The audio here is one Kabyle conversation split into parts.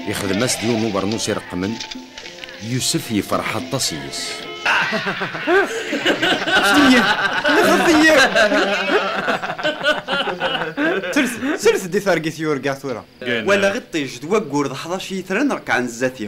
Yexdem-as d yiwen ubernus ireqmen Yusef yefreḥ aṭas yes Jdiyya! Lexdiyya! Sels-d i targit yurga tura. Walaɣ iṭij d wayyur d ḥdac yitran rekkɛen zdat-i.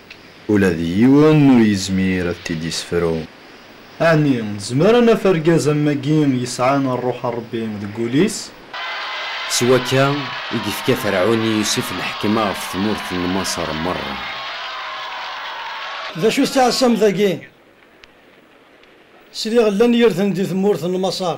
Ula d yiwen ur yezmir ad t-id-yessefru. Ɛni nezmer ad naf argaz am wagi yesɛan rruḥ n Ṛebbi deg wul-is? S wakka i yefka Ferɛun i Yusef lḥekma ɣef tmurt n Maṣer merra. D acu s tiɛessam dagi? Sliɣ llan yirden di tmurt n Maṣer.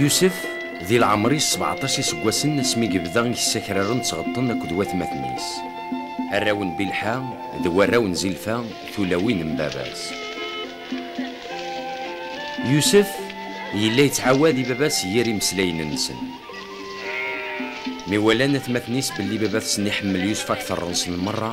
Yusef, di lɛemr-is sebɛṭac iseggasen asmi yebda yessakraren d tɣeṭṭen akked watmaten-is. Arraw n Bilḥa d warraw n Zilfa, tulawin n baba-s. Yusef yella yettɛawad i baba-s yir imeslayen-nsen. Mi walan atmaten-is belli baba-tsen iḥemmel Yusef akteṛ-nsen meṛṛa,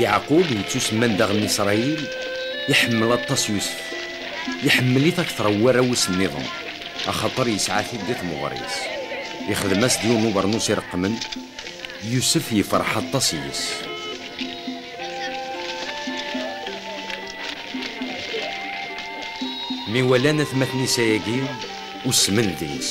Yeɛqub yettusemman daɣen Isṛayil, iḥemmel aṭas Yusef, iḥemmel-it akteṛ n warraw-is nniḍen, axaṭer yesɛa-t-id di temɣer-is. Ixdem-as-d yiwen n ubeṛnus ireqqmen, Yusef yefṛeḥ aṭas yes-s. Mi walan atmaten-is ayagi, usmen deg-s.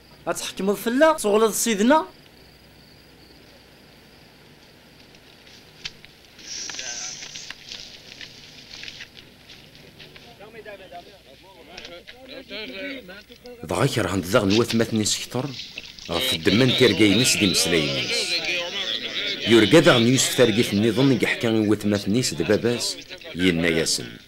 Ad tḥekmeḍ fell-aɣ? Tuɣleḍ s id-neɣ? Dɣa kerhen-t daɣen watmaten-is kter ɣef ddemma n tirga-ines d imeslayen-is. Yurga daɣen Yusef targit-nniḍen i yeḥka i watmaten-is d baba-s, yenna-yasen.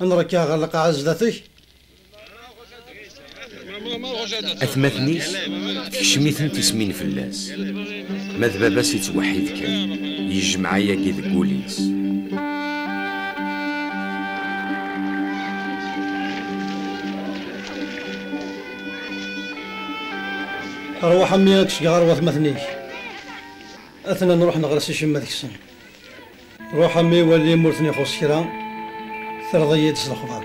Ad nrekkeɛ ɣer lqaɛa zdat-k. Atmaten-is tekcem-iten tismin fell-as, ma d baba-s ittweḥḥid kan, yejmeɛ ayagi deg wul-is. Rwaḥ a mmi ad k-fkeɣ ɣer watmaten-ik. Ad ten-nruḥen ɣer Si Cemma ad ksen. Ruḥ a mmi wali m'ur ten-ixuṣ kra, terreḍ-iyi-d s lexbar.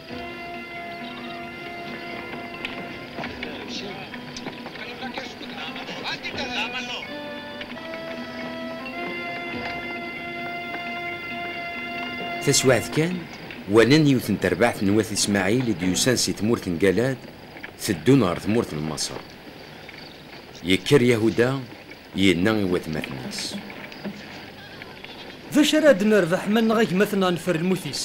Taswiɛt kan, walan yiwet n terbaɛt n Wat Ismaɛil i d-yusan si tmurt n Galad, teddun ɣer tmurt n Maṣer. Yekker Yahuda Yenna i watmaten-is. D acu ara d-nerbeḥ ma nneɣ agmaten-a neffer lmut-is?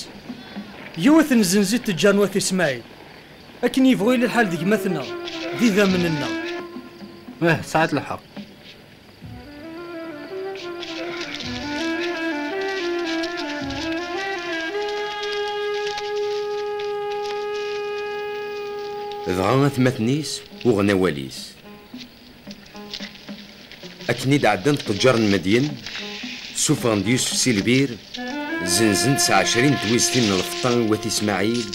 Yiwet n zenzit teǧǧa n wat Ismail. Akken yebɣu yili lḥal d gma-tneɣ, d idammen-nneɣ. Ih, tesɛiḍ lḥeqq. Dɣa atmaten-is uɣen awal-is. Akken i d-ɛeddan ṭeǧǧar n Medyen, suffɣen-d Yusef si lbir, zenzen-d s ɛecrin n twiztin n lfeṭṭa i wat Ismaɛil,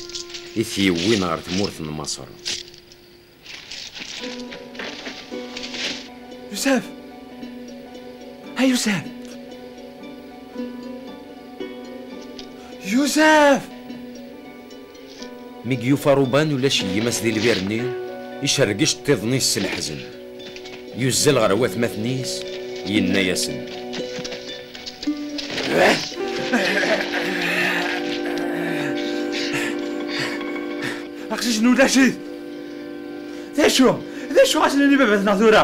i t-yewwin ɣer tmurt n Maṣer. Yusef! A Yusef! Yusef! Mi d-yufa Ruban ulac gma-s di lbir-nni, icerreg iceṭṭiḍen-is s leḥzen. Yuzzel ɣer watmaten-is, yenna-yasen. Aqcic-nni ulac-it! D acu? D acu ara s-nini i baba-tneɣ tura?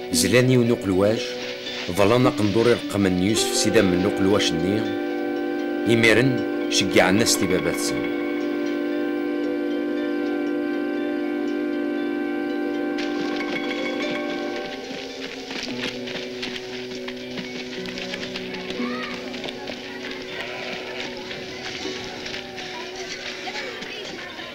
Zlan yiwen uqelwac, ḍlan aqendur i reqqmen n Yusef s idammen n uqelwac-nni, imiren ceggɛen-as-t i baba-tsen.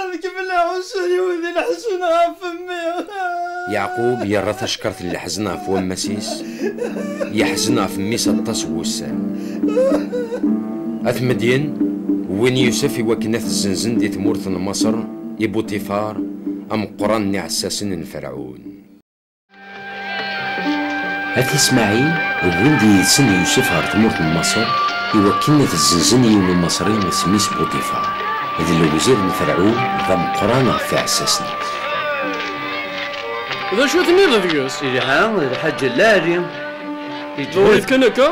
Ad kemmel aɛussur-iw di leḥzen ɣef mmi. Yeɛqub yerra tacekkaṛt n leḥzen ɣef wammas-is, yeḥzen ɣef mmi-s aṭas n wussan. At Medyen wwin Yusef iwakken ad t-zzenzen di tmurt n Maṣer i Buṭifar, ameqqran n iɛessasen n Ferɛun. At Ismaɛil wwin-d yid-sen Yusef ɣer tmurt n Maṣer i wakken ad zzenzen yiwen umaṣri isem-is Buṭifar, d lewzir n Ferɛun, d ameqqran ɣef iɛessasen. D acu tenniḍ deg-s? Yelha d lḥaǧ a lɛali. Newwi-t kan akka,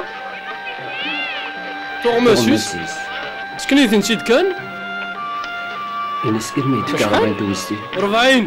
tuɣmas-is, ssken-iten-id kan. Ini-as, imi d-tkerrḍ anta wezzilen. Rebɛin.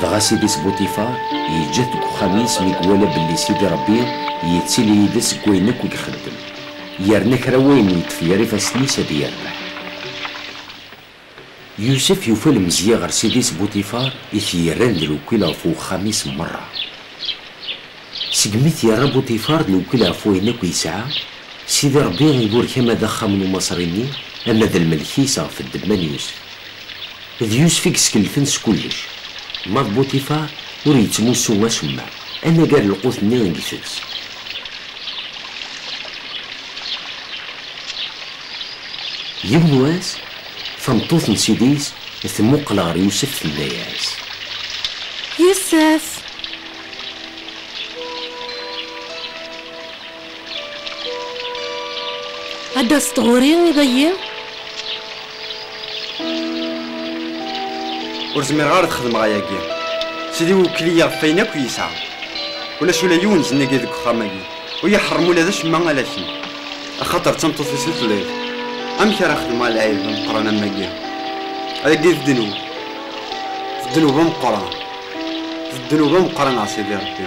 Dɣa Sidi Sbuṭifar yeǧǧa-t deg uxxam-is mi iwala belli Sidi Ṛebbi yettili yid-s deg wayen akk i ixeddem, yerna kra n wayen yeṭṭef ger ifassen-is ad yerbeḥ. Yusef yufa lemzeyya ɣer Sidi Sbuṭifar i t-yerran d lewkil ɣef uxxam-is merra, Segmi i t-yerra Buṭifar d lewkil ɣef wayen akk yesɛa, Sidi Ṛebbi iburek ama d axxam n Umaṣri-nni, ama d lmelk-is ɣef ddemma n Yusef. D Yusef i yeskelfen s kullec. Ma d Buṭifar, ur yettmussu acemma, anagar lqut-nni i itett. Yiwen wass, Tameṭṭut n ssid-is temmuqqel ɣer Yusef tenna-yas. Yusef! Ad d-taseḍ ɣur-i iḍ-ayi? Ur zmireɣ ara ad xedmeɣ ayagi. Sidi iwekkeli-yi ɣef wayen akk i yesɛa. Ulac ula yiwen zennag-i deg uxxam-agi. Ur yeḥṛem ula d acemma ala kemm, axaṭer d tameṭṭut-is i telliḍ. Amek ara xedmeɣ lɛib ameqqran am wagi? Ayagi d ddnub, d ddnub ameqqran, d ddnub ameqqran a Sidi Ṛebbi.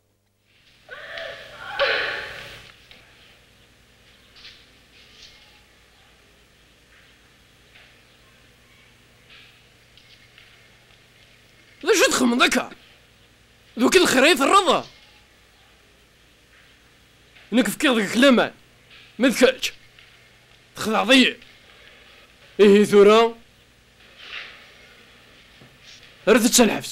D acu txemmeḍ akka? D wakil xir ay terreḍ? Nekk fkiɣ deg-k laman, ma d kečč txedɛeḍ-iyi. Ihi tura, rret-tt ɣer lḥebs.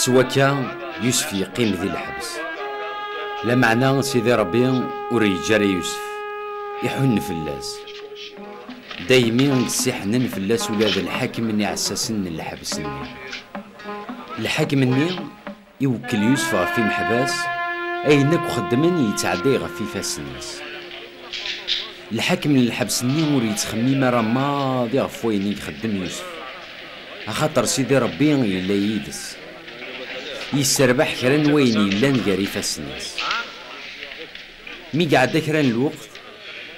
s wakka Yusef yeqqim di lḥebs lameɛna Sidi Ṛebbi ur yeǧǧi ara Yusef iḥunn fell-as daymi i d-ssiḥnen fell-as ula d lḥakem n iɛessasen n lḥebs-nni lḥakem-nni iwekkel Yusef ɣef imeḥbas ayen akk xeddmen yettɛedday ɣef ifassen-is lḥakem n lḥebs-nni ur yettxemmim ara maḍi ɣef wayen i ixeddem Yusef. Axaṭer Sidi Ṛebbi yella yid-s, yesserbaḥ kra n wayen yellan gar ifassen-is. Mi iɛedda kra n lweqt,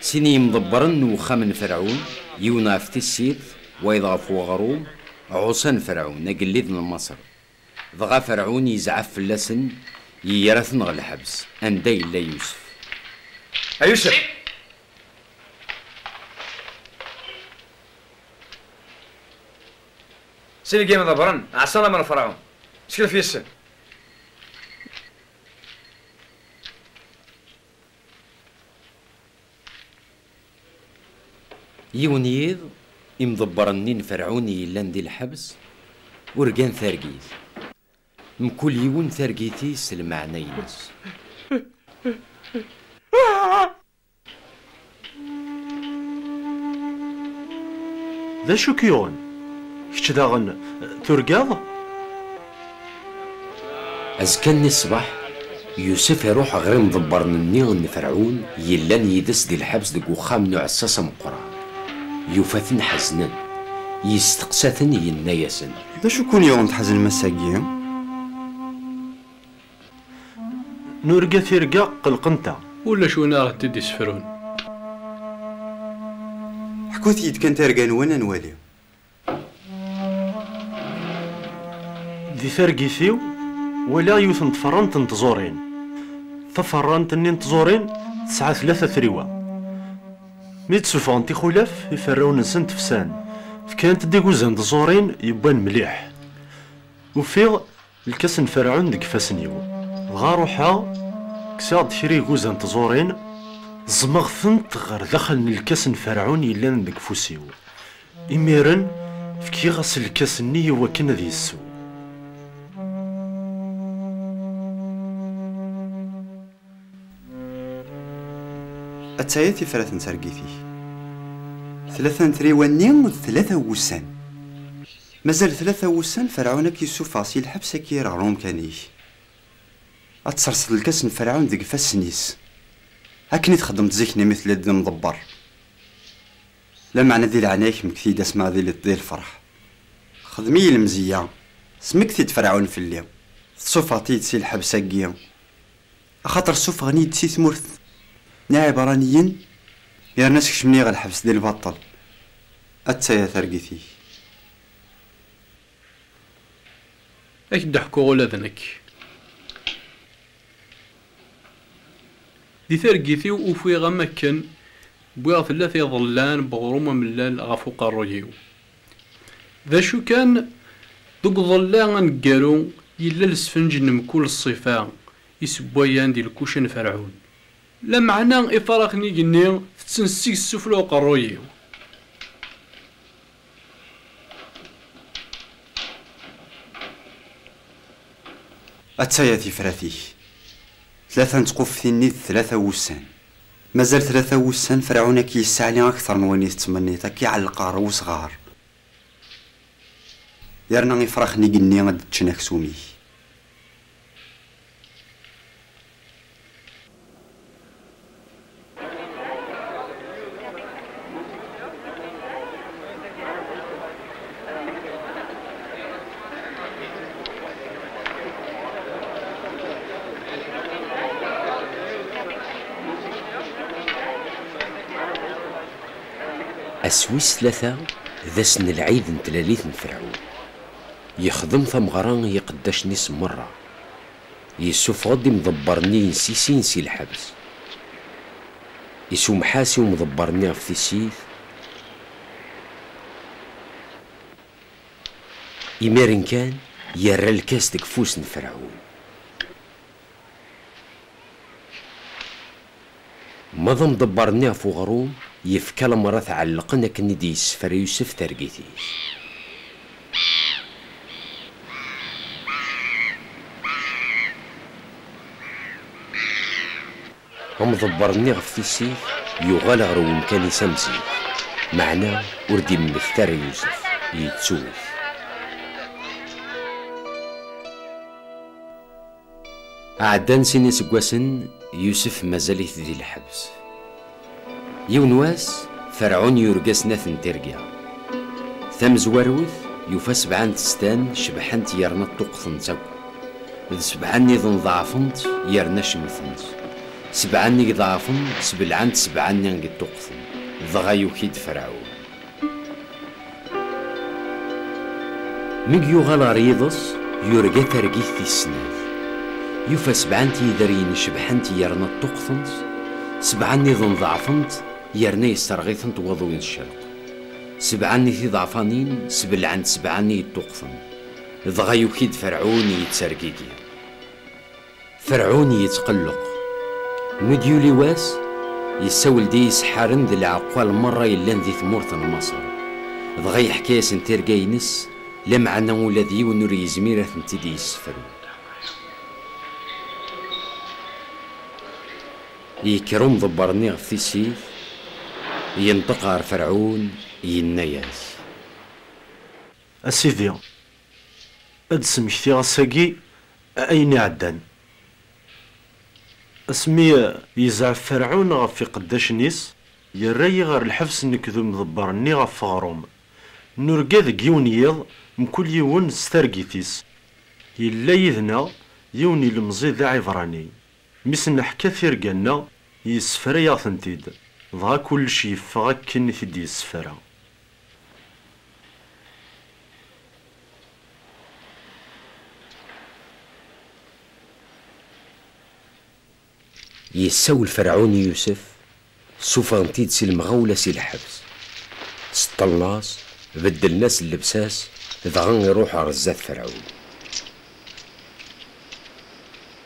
sin n yimḍebbren n wexxam n Ferɛun, yiwen ɣef tissirt, wayeḍ ɣef weɣrum, ɛuṣan Ferɛun, agellid n Maṣer. Dɣa Ferɛun yezɛef fell-asen, yegra-ten ɣer lḥebs, anda yella Yusef. A Yusef! Sin i gin ḍebren, ɛṣan am lefraɣ. Skelf yes-sen. Yiwen yiḍ, imḍebbren-nni n Ferɛun i yellan di lḥebs, urgan targit. Mkul yiwen targit-is s lmeɛna-ines. D acu k-yuɣen? Kečč daɣen turgaḍ? Azekka-nni ṣṣbeḥ, Yusef iruḥ ɣer imḍebbren-nni n Ferɛun yellan yid-s di lḥebs deg uxxam n uɛessas ameqqran. Yufa-ten ḥeznen. Yesteqsa-ten, yenna-yasen. D acu i ken-yuɣen tḥeznem ass-agi? Nurga tirga qelqent-aɣ. Ulac win ara ɣ-t-id-isefrun. Ḥkut-yi-d kan targa-nwen ad nwali. Di targit-iw walaɣ yiwet n tferrant n tẓurin. Taferrant-nni n tẓurin tesɛa tlata triwa. Mi d-ssufɣent ixulaf, iferrawen-nsent fsan. Fkant-d iguzan d tẓurin yewwan mliḥ. Ufiɣ. Lkas n Ferɛun deg ifassen-iw. Dɣa ruḥeɣ, kkseɣ-d kra iguza n tẓurin, ẓẓmeɣ-tent ɣer daxel n lkas n Ferɛun yellan deg ufus-iw. Imiren, fkiɣ-as lkas-nni i wakken ad yessew. Ad tayeḍ tifrat n targit-ik. Tlata n triwa-nni d tlata n wussan. Mazal tlata wussan Ferɛun ad k-yessufeɣ si lḥebs ad k-yerr ɣer umkan-ik. Ad terseḍ lkas n Ferɛun deg ifassen-is, akken i txeddmeḍ zik-nni mi telliḍ d imḍebber. Lameɛna di leɛnaya-k mmekti-yi-d asmi ara tiliḍ di lferḥ. Xdem-iyi lemzeyya, smekti-d Ferɛun fell-i, tessufeɣ-t-id si lḥebs-agi. Axaṭer ssufɣen-iyi-d si tmurt n Iɛibṛaniyen, yerna skecmen-iyi ɣer lḥebs di lbaṭel. Atta-ya targit-ik. Ad ak-d-ḥkuɣ ula d nekk. Di targit-iw ufiɣ am akken wwiɣ tella tiḍellan n uɣrum amellal ɣef uqerruy-iw. D acu kan, deg uḍella aneggaru yella lesfenǧ n mkul ṣṣifa isewwayan di lkuca n Ferɛun. Lameɛna ifaṛax n igenni tetten seg-s ssufla uqerruy-iw. Atta ya tifrat-ik! Tlata n tquftin-nni d tlata wussan. Mazal tlata wussan, Ferɛun a k-yesseɛli akteṛ n wayen i tettmenniḍ, a k-iɛelleq ɣer wesɣaṛ, yerna ifṛaxen igenni ad d-ččen aksum-ik. Ass wis tlata d ass n lɛid n tlalit n Ferɛun. Yexdem tameɣra i yiqeddacen-is merra, yessufeɣ-d imḍebber-nni insisin si lḥebs. Isummeḥ-as i umḍebber-nni ɣef tissit, imiren kan yerra lkas deg ufus n Ferɛun. Ma d amḍebber-nni ɣef uɣrum, yefka lamer ad t-ɛellqen akken i d-yessefra Yusef targit-is. Amḍebber-nni ɣef tissit, yuɣal ɣer wemkan-is am zik, meɛna ur d-immekta ara Yusef, yettu-t. Ɛeddan sin iseggasen, Yusef mazal-it di lḥebs. Yiwen wass, Ferɛun yurga snat n tirga. Tamezwarut, yufa sebɛa n testan cebḥent yerna ṭṭuqtent akk, d sebɛa nniḍen ḍeɛfent yerna cemtent. Sebɛa-nni i iḍeɛfen, sbelɛent sebɛa-nni i ṭṭuqten, dɣa yuki-d Ferɛun. Mi yuɣal ɣer yiḍes, yurga targit tis snat. Yufa sebɛa n tyideryin cebḥent yerna ṭṭuqtent, sebɛa nniḍen ḍeɛfent yerna yesserɣ-itent waḍu n ccerq. Sebɛa nni tiḍeɛfanin sbelɛent sebɛa nni yeṭṭuqten. Dɣa yuki-d Ferɛun yettergigi. Ferɛun yettqelleq. Mi d-yuli wass, yessawel-d i yiseḥḥaren d leɛqal merra yellan di tmurt n Maṣer. Dɣa yeḥka-yasen tirga-ines, lameɛna ula d yiwen ur yezmir ad tent-id-yessefru. Yekker umḍebber-nni ɣef tissit, yenṭeq ɣer Ferɛun, yenna-as. A sidi, Ad d-smektiɣ ass-agi ayen iɛeddan. Asmi yezɛef Ferɛun ɣef iqeddacen-is, yerra-yi ɣer lḥebs nekk d umḍebber-nni ɣef uɣrum. Nurga deg yiwen n yiḍ, mkul yiwen s targit-is. Yella yid-neɣ yiwen n yilemẓi d aɛibrani. Mi s-neḥka tirga-nneɣ, yessefra-yaɣ-tent-id, dɣa kullec yeffeɣ akken i t-id-yessefra. Yessawel Ferɛun i Yusef, ssuffɣen-t-id si lemɣawla si lḥebs. Seṭṭlen-as, beddlen-as llebsa-s, dɣa iruḥ ɣer zdat Ferɛun.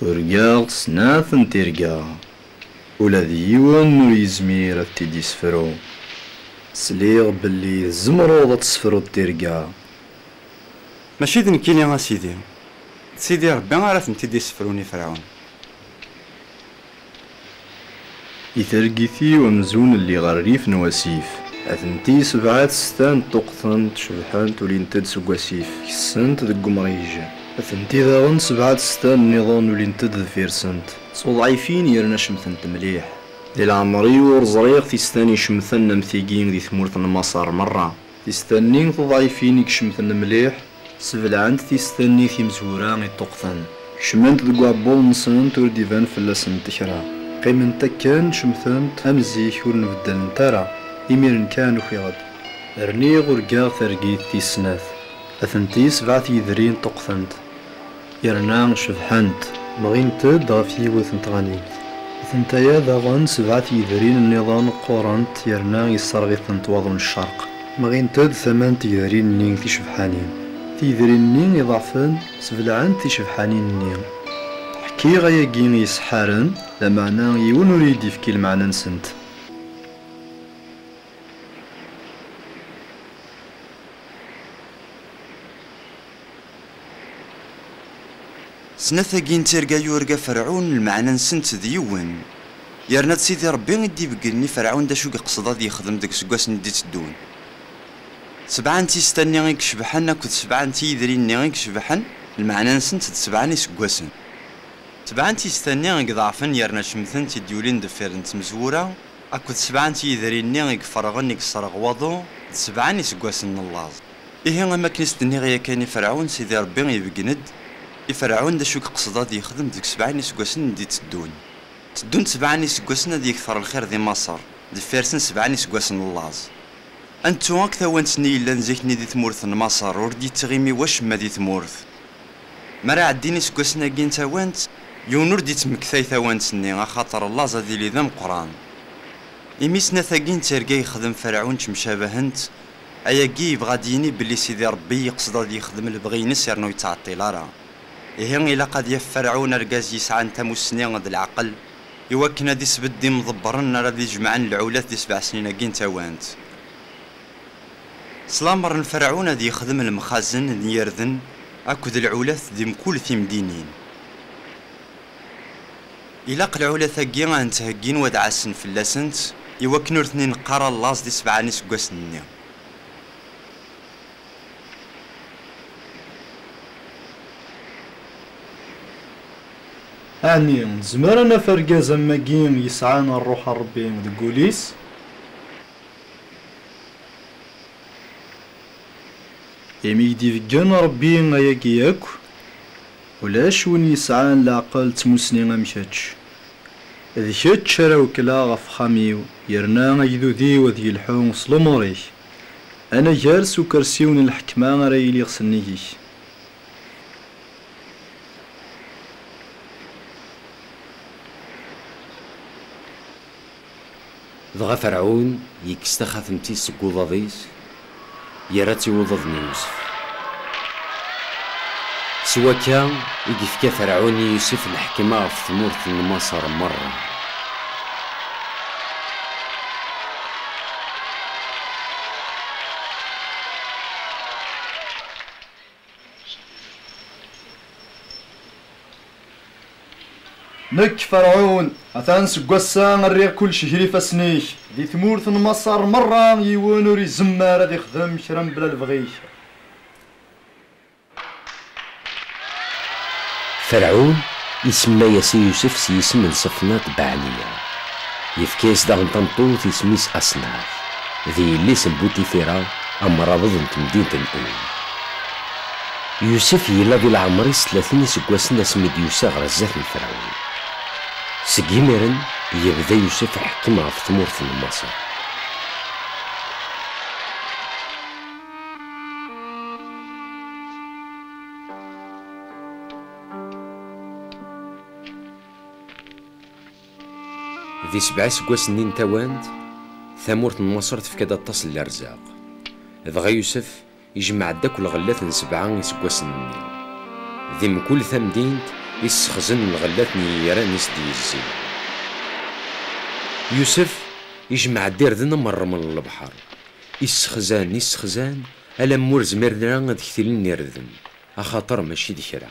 Urgaɣ-d snat n tirga, ula d yiwen ur yezmir ad t-id-yessefru. Sliɣ belli tzemreḍ ad tessefruḍ tirga. Mačči d nekkini a Sidi, d Sidi Rebbi ara tent-id-yessefrun i Ferɛun. I targit-iw amzun lliɣ rrif n wasif. Atenti sebɛa-t s taneṭṭuqtent cebḥent ulint-d seg wasif kessent deg umrij. Atenti daɣen sebɛa-t s ta nniḍen ulint-d deffir-sent s uḍɛifin yerna cemtent mliḥ. Di leɛmer-iw ur ẓriɣ tistan icemten am tigi di tmurt n Maṣer merra. Tista-nni tuḍayfin i icemten mliḥ sebleɛent tista-nni timezwura i ṭṭuqten. Kecment deg uɛebbuḍ-nsent ur d-iban fell-asent kra. Qqiment akken cemtent am zik ur nbeddalent ara. Imiren kan ufiɣ-d. Rniɣ urgaɣ targit tis snat. Atenti sebɛa tyedri ṭṭuqtent. yerna cebḥent, bɣint-d ɣef yiwet n tɣanimt. Atentaya daɣen sebɛa-t yedrin nniḍen qqurent yerna yesserɣ-itent waḍu n ccerq. Bɣint-d tama n tgedrin-nni ticebḥanin. Tigedrin-nni iḍeɛfen sbelɛent ticebḥanin-nni. Ḥkiɣ ayagi i yiseḥḥaren, lameɛna yiwen ur iyi-d-yefki lmeɛna-nsent. Snat-agi n tirga yurga Ferɛun lmeɛna-nsent d yiwen, yerna d Sidi Ṛebbi i d-ibeggnen i Ferɛun d acu i yeqsed ad yexdem deg useggas-nni i d-iteddun. Sebɛa n tista-nni i icebḥen akked sebɛa n tyidrin-nni i icebḥen lmeɛna-nsent d sebɛa n iseggasen. Sebɛa n tista-nni i iḍeɛfen yerna cemtent i d-yulin deffir n tmezwura akked sebɛa n tyidrin-nni i iferɣen i yesreɣ waḍu d sebɛa n iseggasen n llaẓ. Ihi, am wakken i s-d-nniɣ yakan i Ferɛun, Sidi Ṛebbi ibeggen-d i Ferɛun d acu i iqsed ad yexdem deg sebɛa n yiseggasen d-itteddun. Tteddun-d sebɛa n yiseggasen ad yekter lxir di Maṣer, deffir-sen sebɛa n yiseggasen n laẓ. Ad nettu akk tawant-nni yellan zik-nni di tmurt n Maṣer, ur d-yettɣimi wacemma di tmurt. Mi ara ɛeddin yiseggasen-agi n tawant, yiwen ur d-yettmektay tawant-nni, axaṭer laẓ ad yili d ameqqran. Imi snat-agi n tirga yexdem Ferɛun ttemcabahent, Ayagi yebɣa ad d-yini belli Sidi Ṛebbi yeqsed ad yexdem lebɣi-ines yerna ur yettɛeṭṭil ara. Ihi ilaq ad yaf Ferɛun argaz yesɛan tamussni d leɛqel i wakken ad isbedd imḍebbren ara ad ijemɛen lɛulat di sebɛa snin-agi n tawant. S lameṛ n Ferɛun ad yexdem lemxazen n yirden akked lɛulat di mkul timdinin. Ilaq lɛulat-agi ad nettheggin wad ɛassen fell-asent i wakken ur ten-i neqqar a llaẓ di sebɛa n iseggasen-nni. Ɛni nezmer a naf argaz am wagi yesɛan rruḥ n Rebbi deg ul-is? Imi i k-d-ibeggen Rebbi ayagi yakk, Ulac win yesɛan leɛqel d tmussni am kečč. D kečč ara wekkleɣ ɣef uxxam-iw yerna agdud-iw ad yelḥu s lumuṛ-ik. Anagar s ukersiw n lḥekma ara iliɣ s nnig-k. Dɣa Ferɛun ikkes taxatemt-is seg uḍad-is, yerra-tt i uḍad n Yusef. S wakka i yefka Ferɛun i Yusef lḥekma ɣef tmurt n Maṣer merra. Nekk, Ferɛun, atan seg wass-a rriɣ kullec ger ifassen-ik. Di tmurt n Maṣer merra yiwen ur izemmer ad ixdem kra mebla lebɣi-k. Ferɛun isemma-yas i Yusef s yisem n Ṣefnaṭ Beɛniya. Yefka-yas daɣen tameṭṭut isem-is Asenat, d yelli-s n Buṭifira, Amrabeḍ n temdint n Ul. Yusef yella di leɛmer-is tlatin iseggasen asmi d-yusa ɣer zdat n Ferɛun. Seg yimiren, yebda Yusef iḥekkem ɣef tmurt n Maṣer. Di sebɛa iseggasen-nni n tawant, tamurt n Maṣer tefka-d aṭas n lerzaq. Dɣa Yusef ijemmeɛ-d akk lɣellat n sebɛa iseggasen-nni. Di mkul tamdint i ssexzen lɣellat n yigran i s-d-yezzi. Yusef ijemmeɛ-d irden am rreml n lebḥer. I ssexzan, i ssexzan, alamma ur zmiren ara ad ktilen irden, axaṭer mačči d kra.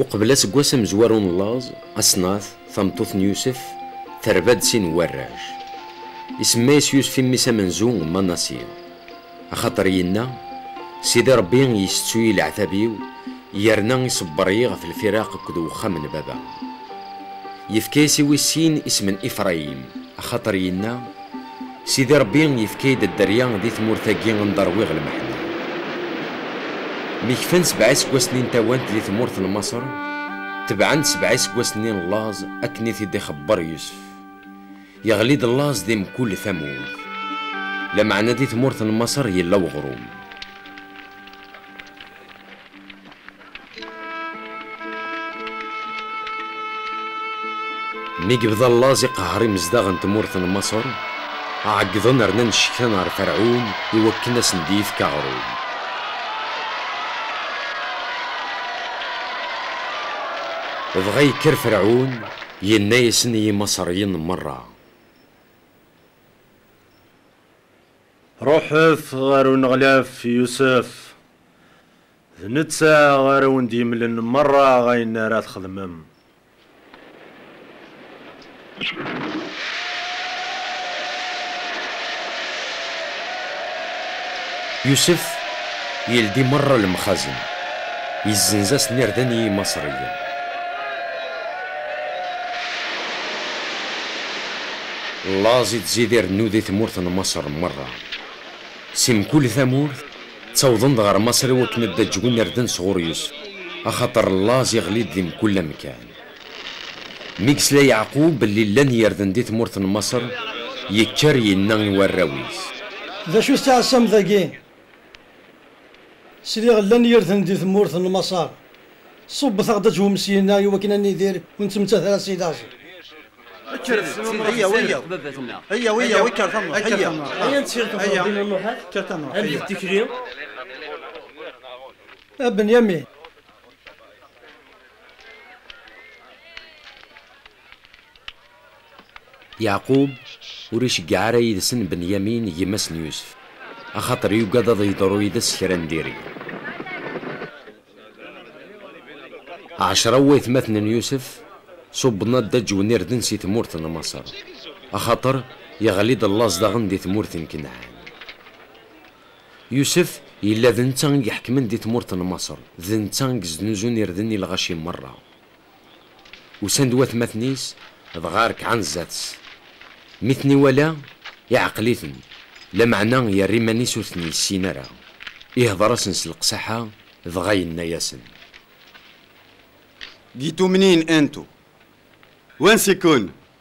Uqbel aseggas amezwaru n laẓ, Asnat, tameṭṭut n Yusef, terba-d sin n warrac. Isemma-yas Yusef i mmi-s amenzu Manasi. Axaṭer yenna, Sidi Ṛebbi yessettu-yi leɛtab-iw, yerna iṣebber-iyi ɣef lfiraq akked wexxam n baba. Yefka-yas i wis sin isem n Ifrayim, axaṭer yenna, Sidi Ṛebbi yefka-yi-d dderya di tmurt-agi anda ṛwiɣ lmeḥna. Mi kfan sebɛa iseggasen-nni n tawant di tmurt n Maṣer, tebɛen-d sebɛa iseggasen-nni n laẓ akken i t-id-ixebbeṛ Yusef. Yeɣli-d laẓ di mkul tamurt. Lameɛna di tmurt n Maṣer yella weɣṛum. Mi yebda llaẓ iqehher imezdaɣ n tmurt n Maṣer, ɛeggḍen rnan ccektan ɣer Ferɛun i wakken asen d yefk aɣrum. Dɣa yekker Ferɛun, yenna-yasen i Yimaṣeryen merra. Ruḥet ɣer uneɣlaf Yusef, d netta ara wen-d-yemlen merra ayen ara txedmem. Yusef yeldi merra lemxazen, yezzenz-asen irden i Yimaṣriyen. Laẓ i tzid irennu di tmurt n Maṣer merra. Si mkul tamurt, ttawḍen-d ɣer Maṣer i wakken ad d-aǧwen irden sɣur Yusef, axaṭer laẓ iɣli-d di mkul amkan. Mi yesla Yeɛqub belli llan yirden di tmurt n Maṣer, yekker, yenna i warraw-is. D acu i tettɛassamt dagi? Sliɣ llan yirden di tmurt n Maṣer. Ṣubbet-aɣ-d aǧwem syina i wakken ad nidir ur nettmettat ara si laẓ. Kker d tmurt i tezdeɣ baba-tneɣ. Kker tamurt, kker tamurt. Aya nttir tamurt din a Muḥ ak, ad d tikli. A Benyamin. Yeɛqub ur iceggeɛ ara yid-sen Benyamin gma-s n Yusef, axaṭer yugad ad yeḍru yid-s kra n diri. Ɛecra n waytmaten n Yusef ṣubben adaǧǧew n irden si tmurt n Maṣer, axaṭer yeɣli-d llaẓ daɣen di tmurt n Kanɛan. Yusef yella d netta i iḥekmen di tmurt n Maṣer, d netta i yesnuzun irden i lɣaci meṛṛa. Usan-d watmaten-is dɣa rekɛen zdat-s. Mi ten-iwala, iɛqel-iten, lameɛna yerra iman-is ur ten-yessin ara. Ihdeṛ-asen s leqsaḥa dɣa yenna-yasen. Gitumnin antu? Wansi-ken?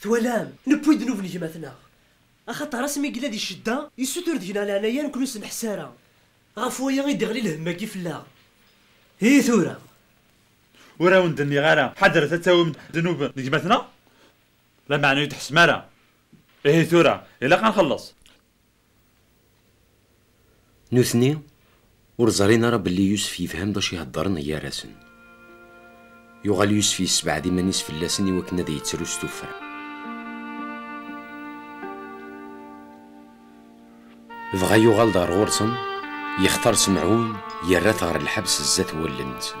Twalam, newwi ddnub n gma-tneɣ. Axaṭer asmi yella di ccedda, yessutur deg-neɣ leɛnaya ur ken-ur-s-neḥs ara. Ɣef waya i d-iɣli lhemm-agi fell-aɣ. I tura? Ur awen-d-nniɣ ara ḥadret ad tawim-d ddnub n gma-tneɣ? Lameɛna ur yi-d-tḥessem ara. Ihi tura, ilaq ad nxelleṣ. Nutni ur ẓrin ara belli Yusef yefhem d acu iheddren gar-asen. Yuɣal Yusef yessebɛed iman-is fell-asen iwakken ad yettru s tuffra. Dɣa yuɣal-d ɣer ɣur-sen, yextar Semɛun, yerra-t ɣer lḥebs zdat n wallen-nsen.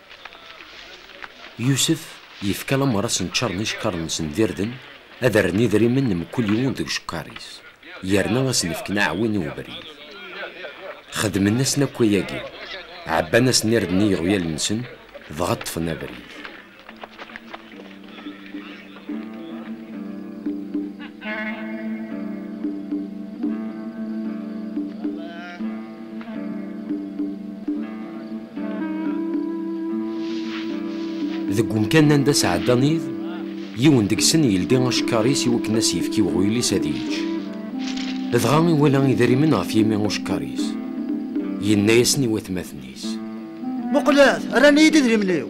Yusef yefka lamer ad sen-ččaṛen icekkaṛen-nsen d irden, ad rren idrimen n mkul yiwen deg ucekkaṛ-is, yerna ad sen-fken aɛwin i ubrid. Xedmen-asen akk wayagi, ɛebban-asen irden i yiɣwyalen-nsen, dɣa ṭṭfen abrid. Deg umkan anda sɛeddan id, yiwen deg-sen yeldi acekkar-is i wakken ad s-yefk i uɣyul-is ad yečč. Dɣa iwala idrimen ɣef yimi ucekkar-is. Yenna-yasen i watmaten-is. Muqlet, rran-iyi-d idrimen-iw!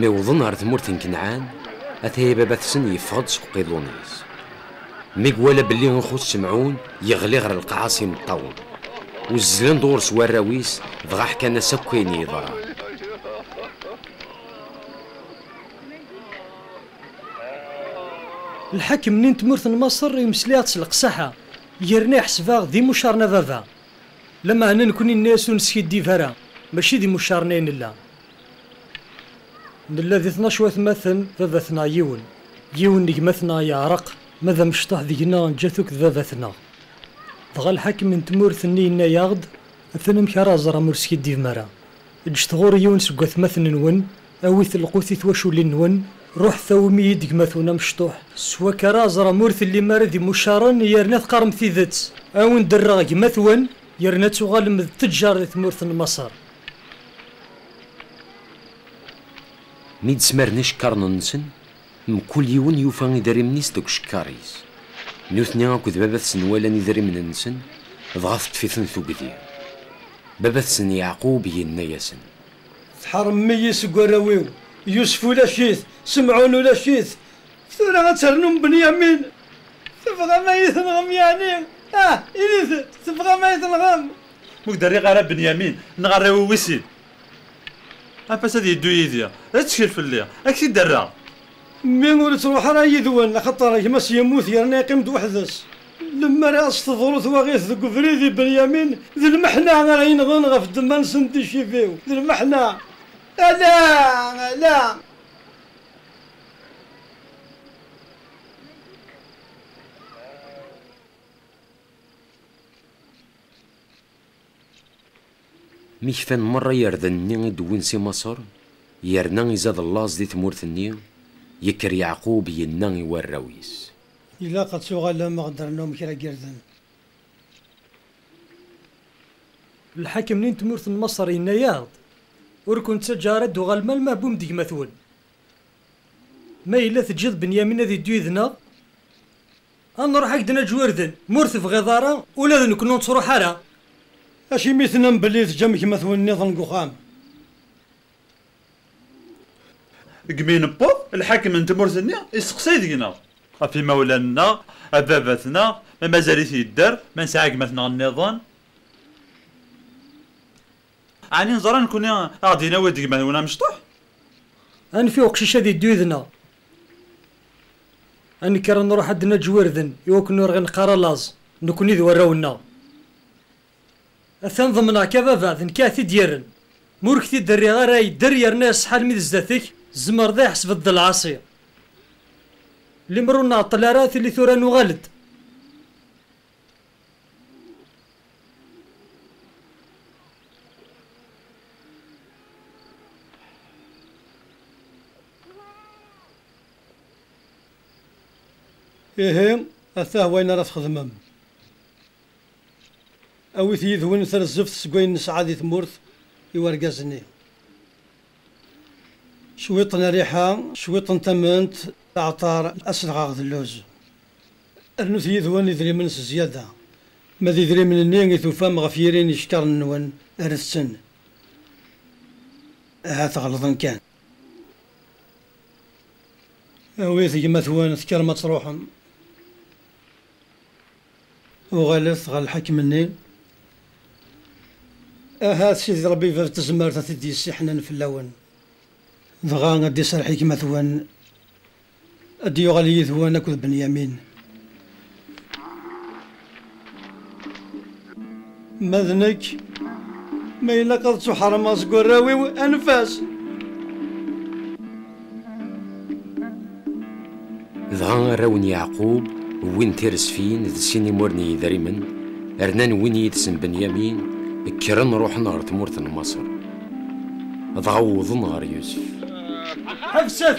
Mi wḍen ɣer tmurt n Kenɛan, ataya baba-tsen yeffeɣ-d seg uqiḍun-is. Mi iwala belli ixuṣ Semɛun, yeɣli ɣer lqaɛa s imeṭṭawen. Uzzlen-d ɣur-s warraw-is, dɣa ḥkan-as akk ayen yeḍran. Lḥakem nni n tmurt n Maṣer imesla-yaɣ-d s leqsaḥa, yerna iḥseb-aɣ d imucaṛen a baba. Lameɛna nekkni nenna-yas ur neskiddib ara, mačči d imucaṛen ay nella. Nella di tnac watmaten, baba-tneɣ yiwen. Yiwen n gma-tneɣ yeɛreq, ma d amecṭuḥ deg-neɣ neǧǧa-t akk d baba-tneɣ. Dɣa lḥakem n tmurt nni yenna-yaɣ-d, Atan amek ara ẓer am ur skiddibem ara. Eǧǧet ɣur-i yiwen seg watmaten-nwen, Awit lqut i twaculin-nwen, ruḥet awim-iyi-d gma-twen amecṭuḥ. S wakka ara aẓrem ur tellim ara d imucaren yerna teqqarem tidet. A wen-d-rreɣ gma-twen yerna ad tuɣalem d teǧǧar di tmurt n Maṣer. Mi d-smaren icekkaṛen-nsen, mkul yiwen yufa idrimen-is deg ucekkar-is. Nutni akked baba-tsen walan idrimen-nsen, dɣa teṭṭef-iten tugdi. Baba-tsen Yeɛqub yenna-yasen. Tḥerrmem-iyi seg warraw-iw, Yusef ulac-it, Semɛun ulac-it, tura ad ternum Benyamin? Tebɣam ad iyi-tenɣem yeɛni? Ah, init-d, tebɣam ad iyi-tenɣem? Ur k-d-rriɣ ara Benyamin, neɣ arraw-iw wis sin. Anef-as ad yeddu yid-i, ad tettkel fell-i, ad k-t-id-rreɣ. Mmi ur ittruḥ ara yid-wen, axaṭer gma-s yemmut yerna yeqqim-d weḥd-s. Lemmer i as-teḍru twaɣit deg ubrid i Benyamin, d lmeḥna ara yenɣen ɣef ddemma-nsen n ticibi-w, d lmeḥna! Ala! Ala! Mi kfan merra yirden-nni i d-wwin si Maṣer, yerna izad llaẓ di tmurt-nni, yekker Yeɛqub, yenna i warraw-is. Ilaq ad tuɣalem a ɣ-d-rnum kra n yirden. Lḥakem-nni n tmurt n Maṣer yenna-yaɣ-d, Ur ken-ttaǧǧaɣ ara ad d-tuɣalem alma ɛebum-d gma-twen. Ma yella teǧǧiḍ Benyamin ad iddu yid-neɣ, A nruḥ a k-d-naǧǧ wirden, ma ur tebɣiḍ ara, ula d nekni ur nettruḥ ara. Acimi i tennam belli teǧǧam gma-twen nniḍen deg uxxam? Deg mi newweḍ, lḥakem n tmurt-nni isteqsay deg-neɣ. Ɣef yimawlan-nneɣ, ɣef baba-tneɣ, ma mazal-it yedder, ma nesɛa gma-tneɣ nniḍen. Ɛni neẓra nekkni a ɣ-d-yenawi deg gma-twen amecṭuḥ? Anef i uqcic ad yeddu yid-neɣ. A nekker a nruḥ ad d-naǧǧ wirden i wakken ur ɣ-ineqqar a laẓ, nekkni d warraw-nneɣ. Atan ḍemneɣ-k a baba, d nekk a ɣ-t-id-yerren. Ma ur k-t-id-rriɣ ara yedder yerna iṣeḥḥa almi d zdat-k, tzemreḍ a iḥesbeḍ d lɛaṣi. Limer ur nɛeṭṭel ara tili tura nuɣal-d. Ihi, atah wayen ara txedmem. Awit yid-wen tarzeft seg wayen nesɛa di tmurt i urgaz-nni. Cwiṭ n rriḥa, cwiṭ n tament, aɛeṭṭar, aselɣaɣ d lluz. Rnut yid-wen idrimen s zyada. Ma d idrimen-nni i tufam ɣef yiri n yicekkaṛen-nwen, rret-ten. Ahat ɣelḍen kan. Awit gma-twen, tekkrem ad tṛuḥem. Uɣalet ɣer lḥakem-nni. Ahat Sidi Ṛebbi Bab n Tezmert ad t-id-yessiḥnen fell-awen. Dɣa ad d-iserreḥ i gma-twen Ad d-yuɣal yid-wen akked Benyamin. Ma d nekk, ma ilaq ad ttuḥeṛmeɣ seg warraw-iw, anef-as! Dɣa arraw n Yeɛqub wwin tiresfin d sin imur n yidrimen, rnan win yid-sen Benyamin, kkren ruḥen ɣer tmurt n Maṣer. Dɣa wwḍen ɣer Yusef. Ḥebset!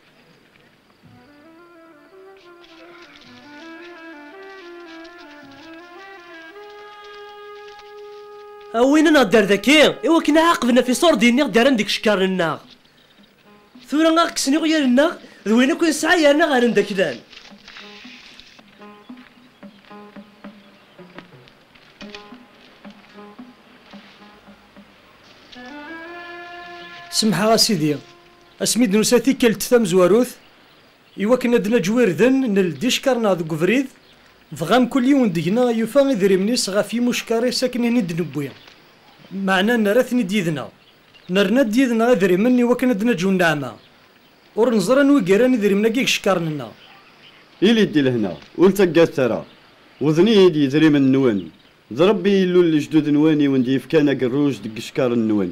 A win ad neɣder daki, i wakken a aqben af iṣurdiyen i ɣ-d-rran deg icekkaṛen-nneɣ. Tura a ɣ-kksen iɣyal-nneɣ d wayen akk i nesɛa yerna ɣer-n d aklan. Semḥeɣ a Sidi. Asmi i d-nusa tikkelt tamezwarut, iwakken ad d-naǧew irden, nel-d icekkaṛen-aɣ deg ubrid, dɣa mkul yiwen deg-neɣ yufa idrimen-is ɣef yimucekkaṛ-is akken ini d-newwi, meɛna nerra-ten-id yid-neɣ. Nerna-d yid-neɣ idrimen iwakken ad d-naǧew nneɛma. Ur neẓri anwa i yerran idrimen-agi deg icekkaṛen-nneɣ. Ili-d di lehna, ur ttaggadet ara. Wwḍen-iyi-d yidrimen-nwen. D Ṛebbi Illu n lejdud-nwen i wen-d-yefkan agerruj deg yicekkaṛen-nwen.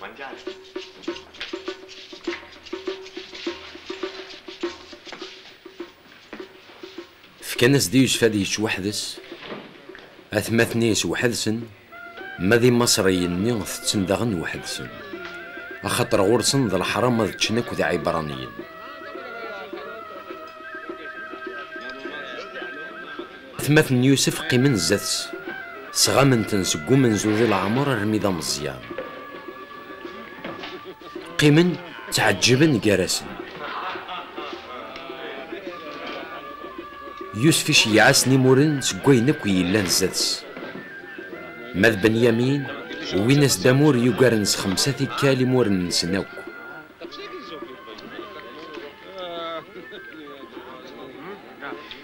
Mangiare. Fkan-as di Yusef ad yečč weḥd-s, atmaten-is weḥd-sen, ma d imaṣriyen-nni tetten daɣen weḥd-sen, axaṭer ɣur-sen d leḥram ad ččen akked iɛibraniyen. Tmaten n Yusef qqimen zdat-s, sɣamen-ten seg umenzu di leɛmer armi d ameẓyan. Qqimen ttɛeǧǧiben gar-asen. Yusef iceyyeɛ-asen imuren seg wayen akk yellan zdat-s. Ma d Benyamin, wwin-as-d amur yugaren s xemsa tikkal imuren-nsen akk.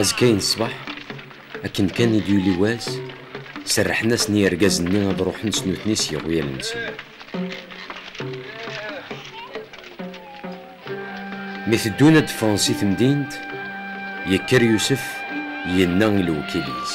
azekka ṣṣbeḥ akken kan i d-yuli wass serrḥen-asen yirgazen-nni ad ruḥen s nutni s yiɣwyal-nsen mi teddun ad d-ffɣen si temdint yekker Yusef yenna i lewkil-is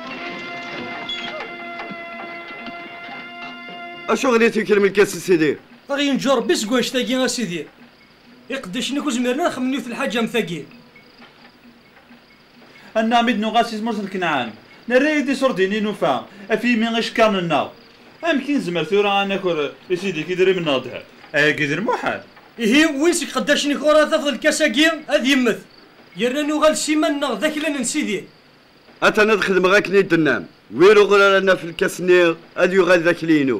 Acuɣer i tuklem lkas a sidi? Ad ɣ-yenǧu Ṛebbi seg wanect-agi a sidi. Iqeddicen akk zemren ad xemmen yiwet lḥaǧa am tagi. Annaɣ mi d-nuɣal si tmurt n Kanɛan, nerra-yi-d iṣurdiyen i nufa ɣef yimi icekkaṛen-nneɣ. Amek i nezmer tura ad naker i sidi-k idrimen neɣ ddheb? Ayagi d lmuḥal! Ihi, win seg iqeddacen-ik ɣur ara tafeḍ lkas-agi, ad yemmet. Yerna nuɣal s iman-nneɣ d aklan n sidi. Atan ad xedmeɣ akken i d-tennam. Wir uɣur ara naf lkas-nni, ad yuɣal d akli-inu.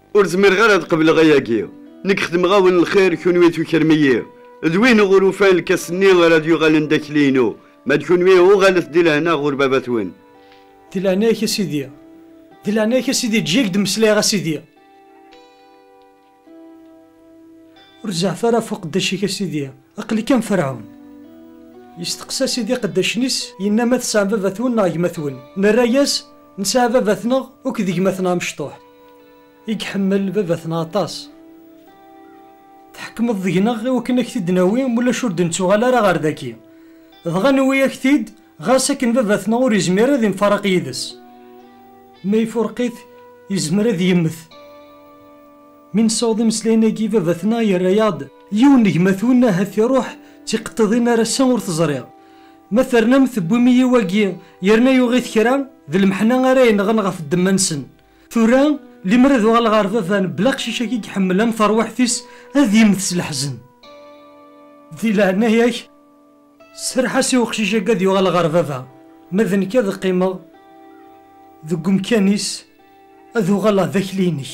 Ur zmireɣ ara ad qebleɣ ayagi. Nekk xedmeɣ-awen lxir, kunwi tukrem-iyi. D win ɣur ufan lkas-nni ara d-yuɣalen d akli-inu, ma d kunwi uɣalet di lehna ɣur baba-twen. Di leɛnaya-k a Sidi, di leɛnaya-k a Sidi, eǧǧ-iyi ad k-d-mmeslayeɣ a Sidi. Ur zeɛɛef ara ɣef uqeddac-ik a Sidi, aql-ik am Ferɛun. Yesteqsa Sidi iqeddacen-is, yenna, Ma tesɛam baba-twen neɣ gma-twen? Nerra-yas, Nesɛa baba-tneɣ akked gma-tneɣ amecṭuḥ. I iḥemmel baba-tneɣ aṭas. Tḥekmeḍ deg-neɣ i wakken ad k-t-id-nawi, ma ulac ur d-nettuɣal ara ɣer dagi. Dɣa nuwi-ak-t-id, ɣas akken baba-tneɣ ur yezmir ara ad imfaraq yid-s. Ma ifureq-it, yezmer ad yemmet. Mi nessaweḍ imeslayen-agi, baba-tneɣ yerra-yaɣ-d yiwen n gma-twen, ahat iruḥ d tiqeṭṭiḍin ar ass-a ur t-ẓriɣ. Ma ternam tewwim-iyi wagi yerna yuɣ-it kra, d lmeḥna ara yenɣen ɣef ddemma-nsen. tura limer ad uɣal ɣer baba n bla aqcic-agi iḥemmel am terwiḥt-is ad yemmet s leḥzen di leɛnaya-k serreḥ-as i uqcic-agi ad yuɣal ɣer baba ma d nekk ad qqimeɣ deg umkan-is ad uɣaleɣ d akli-inek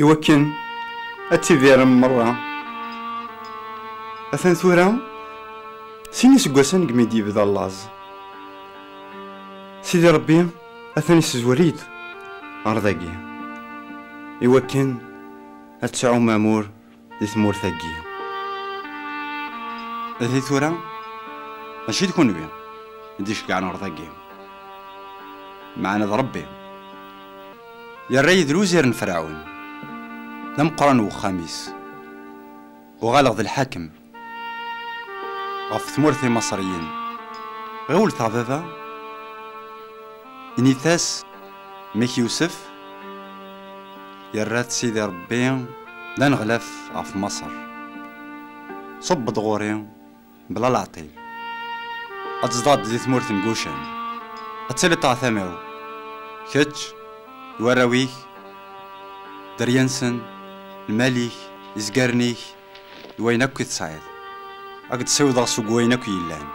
i wakken ad tidirem merra atan tura sin iseggasen deg mi d-yebda laẓ sidi rebbi atan isezwer-it ɣer dagi i wakken ad tesɛum amur Di tmurt-agi. Ihi tura, mačči d kunwi i d-iceggɛen urḍ-agi. Meɛna d Rebbi. Yerra-yi d lwzir n Ferɛun, d ameqqran n wexxam-is. Uɣaleɣ d lḥakem ɣef tmurt n Imaṣriyen. Ɣiwlet a baba, init-as, mmi-k Yusef, Yerra-t Sidi Ṛebbi d aneɣlaf ɣef Maṣer. Ṣubb-d ɣur-i bla leɛṭil. Ad tzedɣeḍ di tmurt n Gucan, ad tiliḍ ṭṭeɛtama-w, kečč, d warraw-ik, dderya-nsen, lmal-ik, izgaren-ik, d wayen akk i tesɛiḍ. Ad k-d-ssiwḍeɣ seg wayen akk yellan.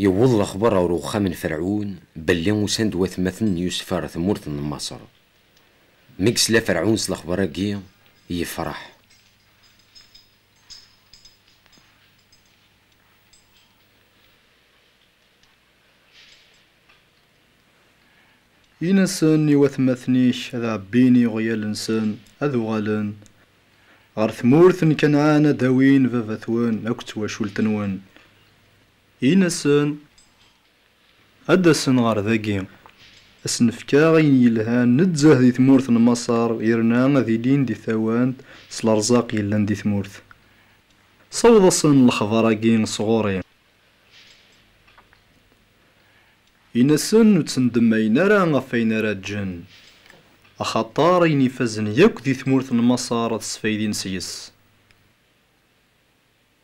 Yewweḍ lexbar ɣer uxxam n Ferɛun belli usan-d watmaten n Yusef ɣer tmurt n Maṣer. Mi yesla Ferɛun s lexbar-agi, yefreḥ. Yenna-asen i watmaten-ik ad ɛebbin iɣyal-nsen, ad uɣalen ɣer tmurt n Kanɛan, ad awin baba-twen akked twacult-nwen. Yenna-sen, Ad d-asen ɣer dagi, ad sen-fkeɣ ayen yelhan nezzeh di tmurt n Maṣer yerna ad ilin di tawant s lerzaq yellan di tmurt. Saweḍ-asen lexbar-agi s ɣur-i. Yenna-sen, Ur ttendemmayen ara ɣef wayen ara ǧǧen, axaṭer ayen ifazen yakk di tmurt n Maṣer ad sfaydin seg-s.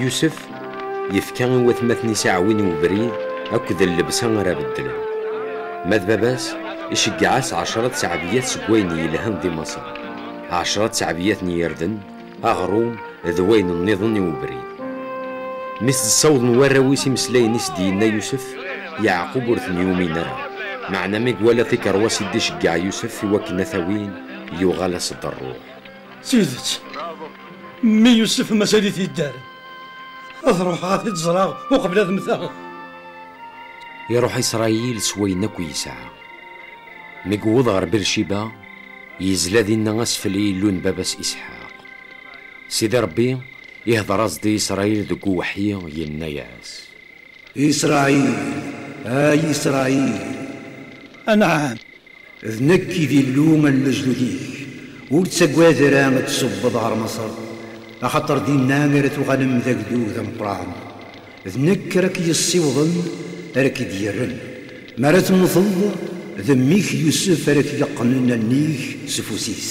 Yusef yefka i watmaten-is aɛwin i ubrid akked llebsa ara beddlen. Ma d baba-s, iceggeɛ-as ɛecra tteɛbiyat seg wayen yelhan di Maṣer, ɛecra tteɛbiyat n yirden, aɣrum d wayen nniḍen i ubrid. Mi s-d-ssawḍen warraw-is imeslayen i s-d-yenna Yusef, Yeɛqub ur ten-yumin ara, meɛna mi iwala tikeṛwas i d-iceggeɛ Yusef i wakken a t-awin, yuɣal-as-d ṛṛuḥ. D tidet, mmi Yusef mazal-it yedder. Ad ruḥeɣ ad t-id-ẓreɣ uqbel ad mmteɣ. Iruḥ Isṛayil s wayen akk yesɛa. Mi yewweḍ ɣer Birciba, yezla dinna asfel i Yillu n baba-s Isḥaq. Sidi Ṛebbi ihdeṛ-as-d i Isṛayil deg uweḥyi, yenna-as. Isṛayil, ay Isṛayil! Anɛam, D nekk i d Illu n lejdud-ik, ur ttagad ara ad d-tṣubbeḍ ɣer Maṣer, axaṭer dinna ara tuɣalem d agdud ameqqran. D nekk ara k-yessiwḍen, ara k-id-yerren. Mi ara temteḍ, d mmi-k Yusef ara k-yeqqnen a nnig s ufus-is.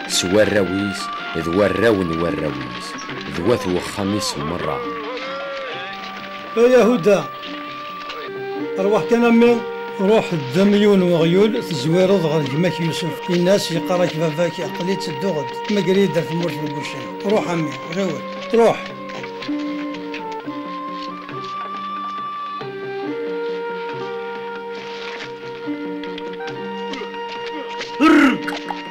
s warraw-is d warraw n warraw-is, d wat wexxam-is merra. A Yahuda, rwaḥ kan a mmi! Ruḥ ddem yiwen weɣyul, tezwireḍ ɣer gma-k Yusef, in-as yeqqar-ak baba-k, aql-i ttedduɣ-d, tmegger-iyi-d ar tmurt n Gucen. Ruḥ a mmi, ɣiwel, ruḥ!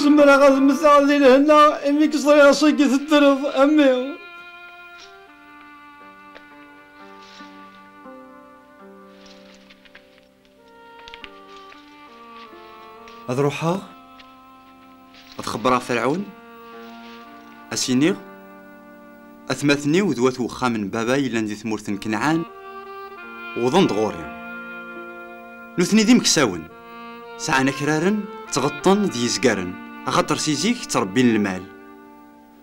Zemreɣ ad mmteɣ di lehna imi k-ẓriɣ ass-agi teddreḍ a mmi. ad ruḥeɣ ad xebbreɣ ferɛun ad s-iniɣ atmaten-iw d wat uxxam n baba yellan di tmurt n Kenɛan wwḍen-d ɣur-i nutni d imeksawen sɛan akraren ttɣeṭṭen d yizgaren axaṭer si zik ttrebbin lmal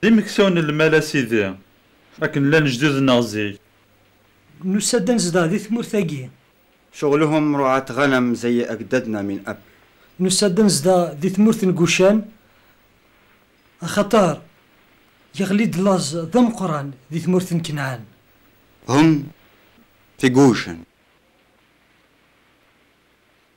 D imeksawen n lmal a sidi, akken llan lejdud-nneɣ zik. Nusa-d ad nezdeɣ di tmurt-agi. Ceɣlehum ruɛat ɣanam zey agdadna min ab. Nusa-d ad nezdeɣ di tmurt n Gucan, axaṭer yeɣli-d laẓ d ameqqran di tmurt n Kenɛan. Hum, ti Gucan.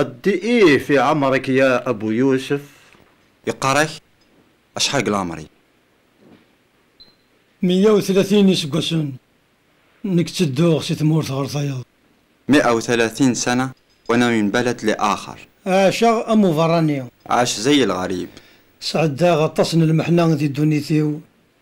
Addi-ih fi ɛemr-ik ya Abu Yusef. Yeqqar-ak acḥal deg leɛmer-ik? Meyya u tlatin iseggasen, nekk ttedduɣ si tmurt ɣer tayeḍ. Mi'a u tlatin sana w'ana min balad li axar. Ɛaceɣ am uberrani. Ɛac zey lɣarib. Sɛeddaɣ aṭas n lmeḥna di ddunit-iw,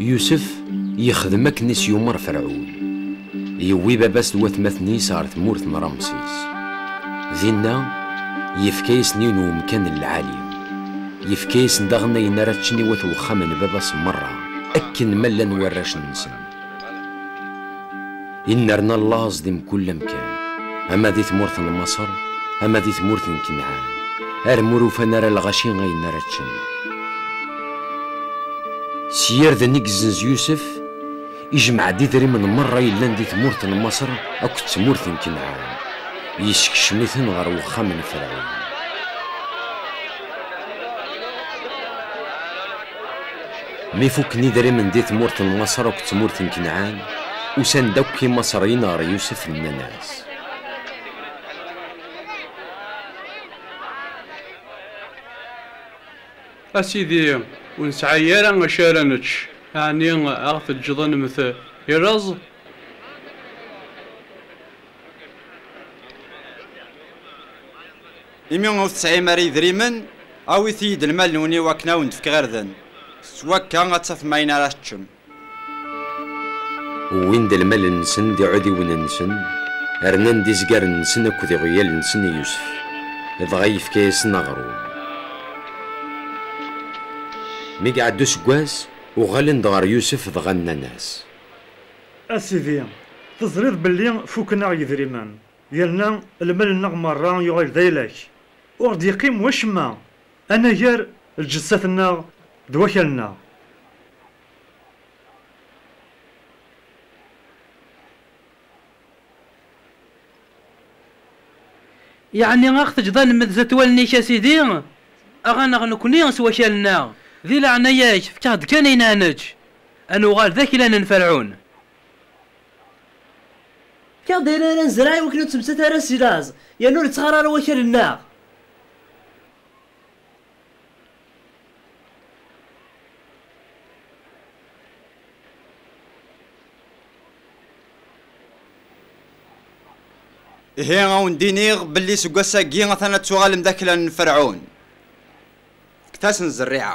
Yusef yexdem akken i s-yumer Ferɛun. Yewwi baba-s d watmaten-is ɣer tmurt n Ramsis. Dinna, yefka-yasen-in umkan n lɛali. Yefka-yasen daɣen ayen ara ččen i wat wexxam n baba-s merra, akken ma llan warrac-nsen. Innerna llaẓ di mkul amkan, ama di tmurt n Maṣer, ama di tmurt n Kenɛan, armi ur ufan ara lɣaci ayen ara ččen. S yirden i yezzenz Yusef, ijmeɛ-d idrimen merra yellan di tmurt n Maṣer akked tmurt n Kenɛan, yessekcem-iten ɣer wexxam n Ferɛun. Mi fukken idrimen di tmurt n Maṣer akked tmurt n Kanɛan, usan-d akk Imaṣeryen ɣer Yusef, nnan-as. A sidi, ur nesɛi ara acu ara nečč, ɛni a ɣ-teǧǧeḍ a nemmet i laẓ? Imi ur tesɛim ara idrimen, awit-iyi-d lmal-nwen i wakken ad wen-d-fkeɣ irden. S wakka ad tafem ayen ara teččem. Wwin-d lmal-nsen d iɛudiwen-nsen, rnan-d izgaren-nsen akked iɣwyal-nsen i Yusef, dɣa yefka-yasen aɣrum. Mi iɛedda useggas, uɣalen-d ɣer Yusef dɣa nnan-as. A sidi, teẓriḍ belli fuken-aɣ yidrimen, Yerna lmal-nneɣ merra yuɣal d aylak, ur ɣ-d-yeqqim wacemma anagar lǧessat-nneɣ d wakal-nneɣ. Yeɛni a ɣ-teǧǧeḍ a nemmed zdat wallen-ik a Sidi, a ɣ-aneɣ nekkni s wakal-nneɣ, di leɛnaya-k fek-aɣ-d kan ayen a neǧǧ, a nuɣal d aklan n Ferɛun. Kkaɣ-d ayen ara nezreɛ iwakken ur ttmettat ara si laẓ, yerna ur ittɣar ara wakal-nneɣ. Ihi a wen-d-iniɣ belli seg wass-agi atan ad tuɣalem d aklan n Ferɛun, fket-asen zerriɛa.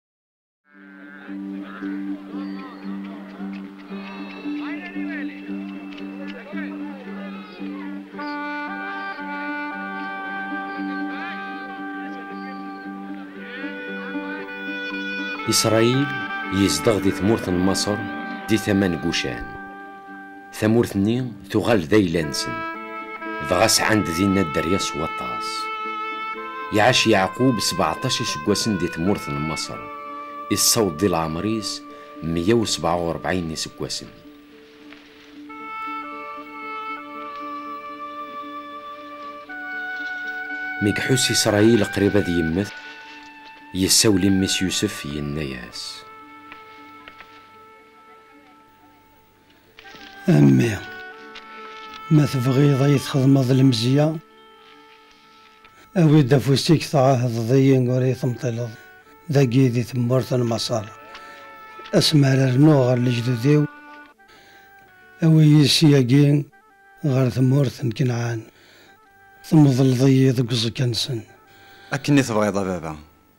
Isṛayil yezdeɣ di tmurt n Maṣer, di tama n Gucan. Tamurt-nni tuɣal d ayla-nsen, dɣa sɛan-d dinna dderya s waṭas. Iɛac Yeɛqub sbeɛṭac iseggasen di tmurt n Maṣer, issaweḍ di leɛmer-is meyya u sebɛa u rebɛin n iseggasen. Mi iḥuss Isṛayil qrib ad yemmet, yessawel i mmi-s Yusef, yenna-as. A mmi, ma tebɣiḍ a yi-txedmeḍ lemzeyya, awi-d afus-ik tɛahdeḍ-iyi ur yi-temṭileḍ dagi di tmurt n Maṣer, asmi ara rnuɣ ɣer lejdud-iw, awi-yi ssyagi ɣer tmurt n Kanɛan, temḍleḍ-iyi deg uẓekka-nsen. Akken i tebɣiḍ a baba.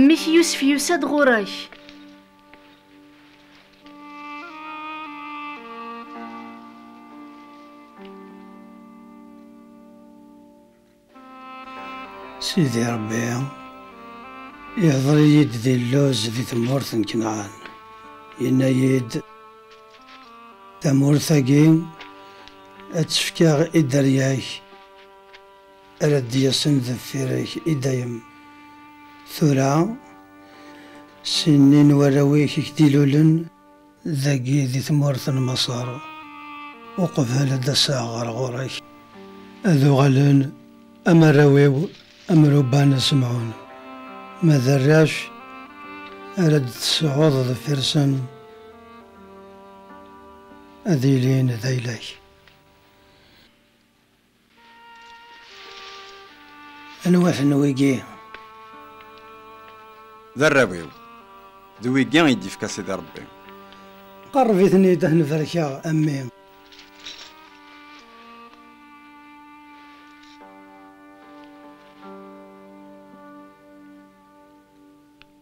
Mmi-k Yusef yusa-d ɣur-ak. Sidi Ṛebbi iḥḍer-iyi-d di lluz di tmurt n Knaɛan, yenna-yi-d, Tamurt-agi ad tt-fkeɣ i dderya-k, ara d-yasen deffir-k i dayem. Tura, sin-nni n warraw-ik i k-d-ilulen, Dagi di tmurt n Maṣer. Uqbel ad d-aseɣ ɣer ɣur-k. Ad uɣalen am arraw-iw am Ruban d Semɛun. Ma d arrac ara d-tesɛuḍ deffir-sen, ad ilin d ayla-k. Anwa-ten wigi? D arraw-iw, d wigi i d-yefka Sidi Rebbi. Qerreb-iten-id ad ten-barkeɣ, a mmi.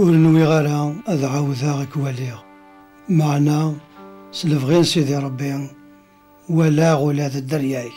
ur nwiɣ ara ad ɛawdeɣ ad k-waliɣ, meɛna s lebɣi n Sidi Ṛebbi walaɣ ula d dderya-k.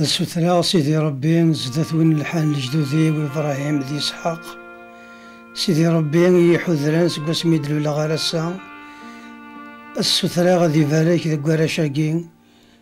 ad sutreɣ sidi rebbi zdat win lḥan lejdudi-w ibrahim d isḥaq sidi rebbi i yiḥudran seg wasmi d-luleɣ ar ass-a ad sutreɣ ad ibarek deg warrac-agi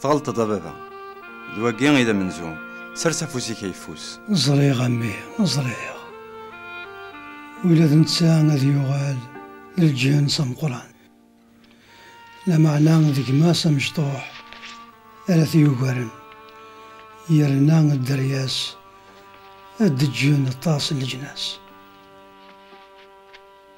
Tɣelṭeḍ a baba. D wagi i d amenzu. Sers afus-ik ayeffus. Ẓriɣ a mmi, ẓriɣ. Ula d netta ad yuɣal d lǧens ameqqran. Lameɛna d gma-s amecṭuḥ ara t-yugaren. Yerna dderya-s ad d-ǧǧen aṭas n leǧnas.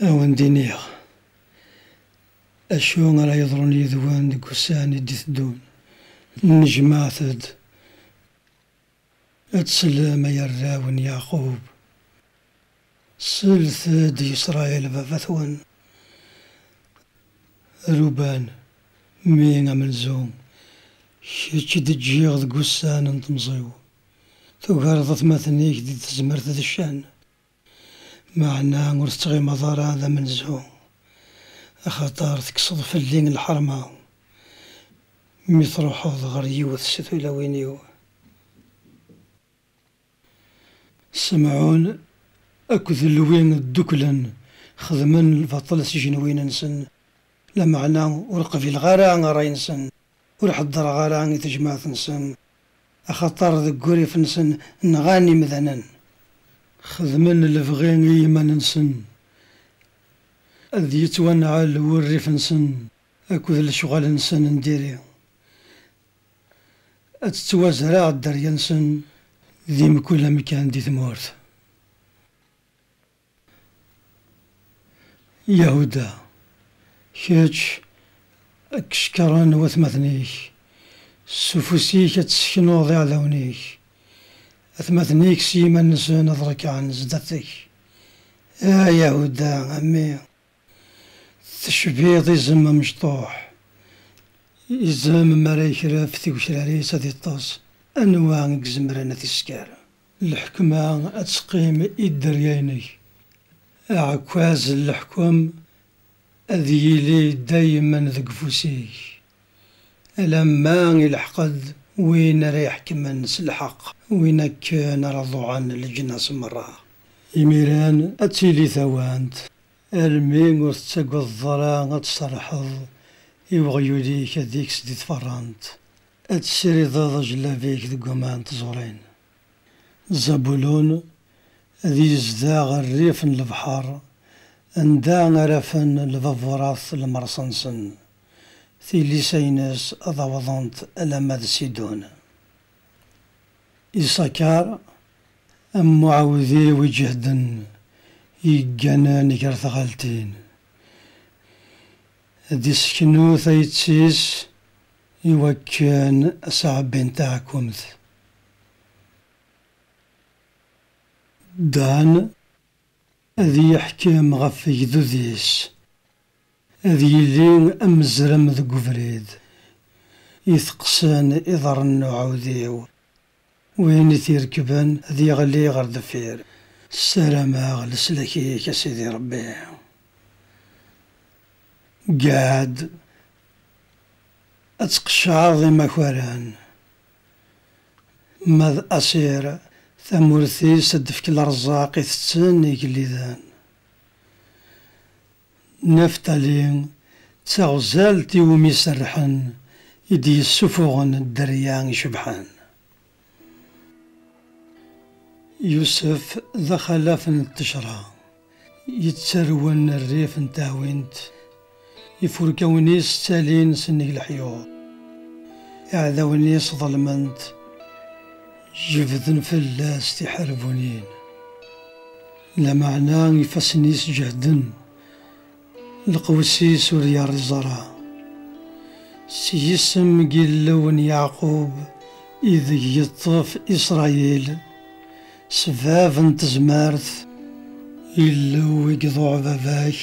Ad awen-d-iniɣ acu ara yeḍrun yid-wen deg wussan i d-iteddun. Nnejmaɛet-d ad tsellem ay arraw n Yeɛqub, slet-d i Isṛayil baba-twen, Ruben, mmi amenzu, kečč i d-ǧǧiɣ deg wussan n temẓi-w. Tugareḍ atmaten-ik di tezmert d ccan, meɛna ur tettɣimeḍ ara d amenzu, axaṭer tekkseḍ fell-i lḥerma mi truḥeḍ ɣer yiwet si tulawin-iw. Semɛun akked Lewi dduklen xedmen lbaṭel s ijenwiyen-nsen, lameɛna ur qbileɣ ara ṛṛay-nsen. Ur ḥeddreɣ ara i tejmaɛt-nsen, axaṭer deg wurrif-nsen nɣan imdanen. Xedmen lebɣi i yiman-nsen. Ad yettwanɛel wurrif-nsen akked lecɣal-nsen n diri. Ad tettwazreɛ dderya-nsen di mkul amkan di tmurt. Yahuda, kečč ad k-cekṛen watmaten-ik, s ufus-ik ad tesseknuḍ iɛdawen-ik, atmaten-ik s yiman-nsen ad ṛekɛen zdat-k. A Yahuda, a mmi! Tecbiḍ izem amecṭuḥ. Izem mi ara yekref tigecrar-is ad iṭṭes, anwa i izemren ad t-isker? Lḥekma ad teqqim i dderya-inek. Aɛekkaz n leḥkem ad yili daymen deg ufus-ik, alamma ilḥeq-d win ara iḥekmen s lḥeqq, win akken ara ḍuɛen leǧnas merra. Imiren ad tili tawant Almi ur tettagadeḍ ara ad tserrḥeḍ i weɣyul-ik ad ikkes di tfeṛṛant, ad tessirideḍ ajellab-ik deg waman n tẓuṛin. Zabulun ad yezdeɣ ɣer rrif n lebḥeṛ, anda ara afen lbaburat lmerṣ-nsen, tilisa-ines ad awḍent alamma d Sidun. Isakar, am uɛewdiw iǧehden yegganen gar tɣaltin, ad iseknu tayet-is i wakken ad s-ɛebbin taɛkumt. Dan, ad yeḥkem ɣef wegdud-is. Ad yili amezrem deg ubrid. Iteqqsen iḍarren n uɛudiw. Win i t-irekben ad yeɣli ɣer deffir. Ssarameɣ leslak-ik a Sidi Rebbi. Gad ad tqeccɛeḍ imakaren. Ma d Asir, tamurt-is ad d-tefk lerzaq i tetten igelliden. Naftali, d taɣzalt i wumi serrḥen i d-yessufuɣen dderya icebḥen. Yusef, d axalaf n ttejra, yettarwen rrif n teɛwint Ifurkawen-is ttalin sennig leḥyuḍ. Iɛdawen-is ḍelmen-t, jebden fell-as tiḥerbunin. Lameɛna ifassen-is jehden, lqews-is ur yerriẓ ara. S yisem n Yillu n Yeɛqub ideg yeṭṭef Isṛayil. S bab n tezmert, Illu i iḍuɛ baba-k.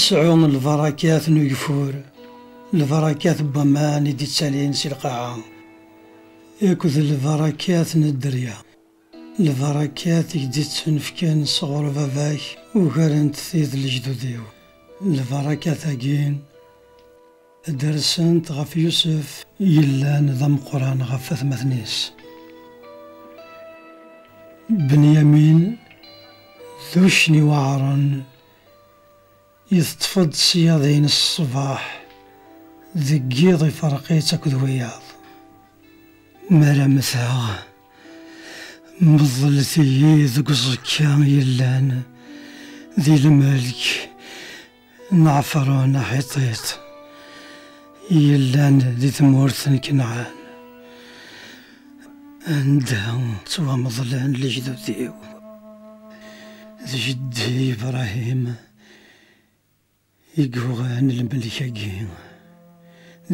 Sɛu lbarakat n ugeffur, lbarakat n waman i d-ittalin si lqaɛa, akked lbarakat n dderya. Lbarakat i k-d-ittunefken sɣur baba-k ugarent tid n lejdud-iw. Lbarakat-agi. Dersent ɣef Yusef. Yellan d ameqqran ɣef atmaten-is. Benyamin d uccen iweɛren, iteṭṭef-d ṣṣyad-ines ṣṣbeḥ, deg yiḍ iferq-itt akked wiyaḍ. Mi ara mmteɣ, meḍlet-iyi deg uẓekka yellan di lmelk. Naɛefṛun Aḥiṭit i yellan di tmurt n Kanɛan, anda ttwameḍlen lejdud-iw, d jeddi Ibṛahim i yuɣen lmelk-agi.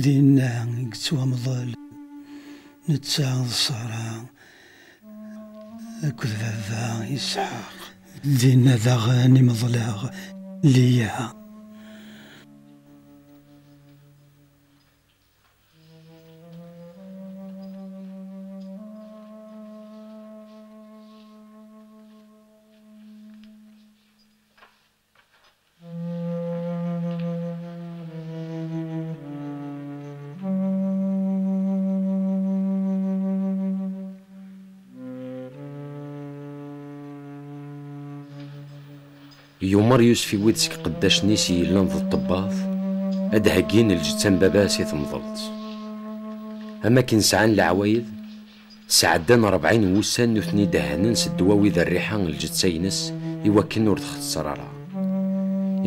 Dinna i yettwamḍel netta d Ṣara. Akked baba Isḥaq. Dinna daɣen i meḍleɣ Liya. Yumer Yusef i wid seg qeddacen-is i yellan d ṭṭebbat ad d-heggin lǧetta n baba-s i temḍelt. Am akken sɛan leɛwayed Sɛeddan rebɛin n wussan nutni dehhnen s ddwawi d rriḥa n lǧeţţa-ines i wakken ur txeţţer ara.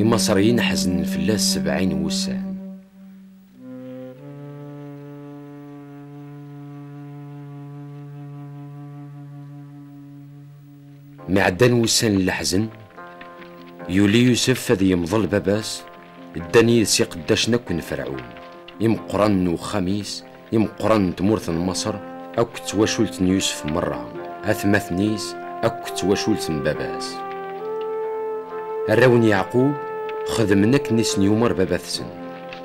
Imaṣriyen ḥeznen fell-as sebɛin n wussan. Mi ɛeddan wussan n leḥzen, yuli Yusef ad yemḍel baba-s, ddan yid-s iqeddacen akk n Ferɛun, imeqqranen n uxxam-is, imeqqranen n tmurt n Maṣer, akk d twacult n Yusef merra, atmaten-is, akk d twacult n baba-s. Arraw n Yeɛqub xedmen akken i sen-yumeṛ baba-tsen.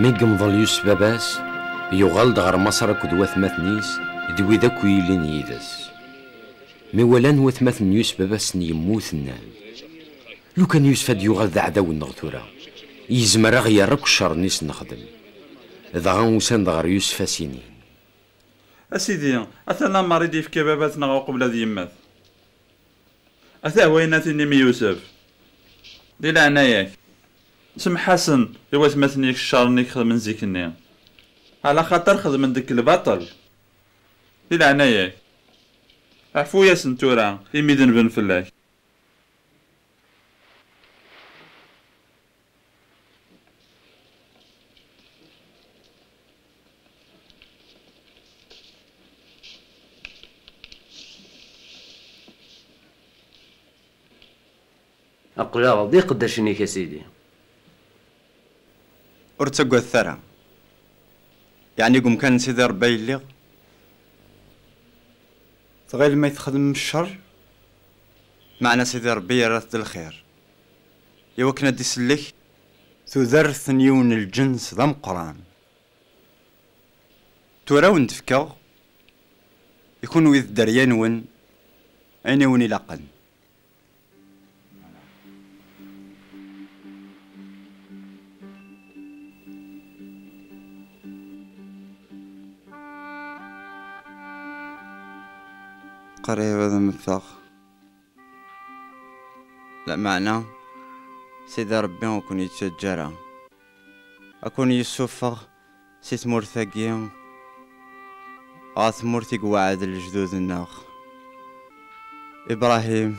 Mi yemḍel Yusef baba-s, yuɣal-d ɣer Maṣer akked watmaten-is d wid akk yillin yid-s. Mi walan watmaten n Yusef baba-sen yemmut, nnan, Lukan Yusef ad yuɣal d aɛdaw-nneɣ tura, yezmer ad aɣ-yerr akk ccer-nni s-nexdem. Dɣa usan-d ɣer Yusef ad as-inin, A sidi, ata lamer i d-yefka baba-s neɣ uqbel ad yemmet. Atah wayen ad t-inim i Yusef. Di leɛnaya-k, semmeḥ-asen i watmaten-ik ccer-nni i k-xedmen zik-nni, ɛla xaṭer xedmen deg-k lbaṭel. Di leɛnaya-k, ɛfu-yasen tura imi denben fell-ak. Aql-aɣ d iqeddacen-ik a Sidi. Ur ttagadet ara. Yeɛni deg umkan n Sidi Ṛebbi ay lliɣ? Tɣilem ay txedmem cceṛ, meɛna Sidi Ṛebbi yerra-t d lxir. I wakken ad d-isellek tudert n yiwen n lǧens d ameqqran. Tura a wen-d-fkeɣ i kunwi d dderya-nwen ayen i wen-ilaqen. Qrib ad mmteɣ. Lameɛna Sidi Ṛebbi ur ken-yettaǧǧa ara, ad ken-yessufeɣ si tmurt-agi ɣer tmurt i iweɛɛed lejdud-nneɣ, Ibṛahim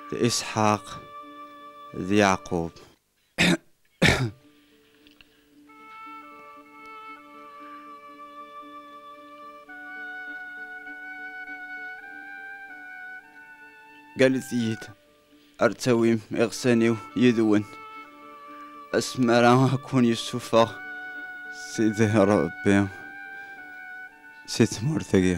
d Isḥaq d Yeɛqub. Galet-iyi-d ar ttawim iɣsan-iw yid-wen asmi ara akun yessufeɣ Sidi Ṛebbi si tmurt-agi.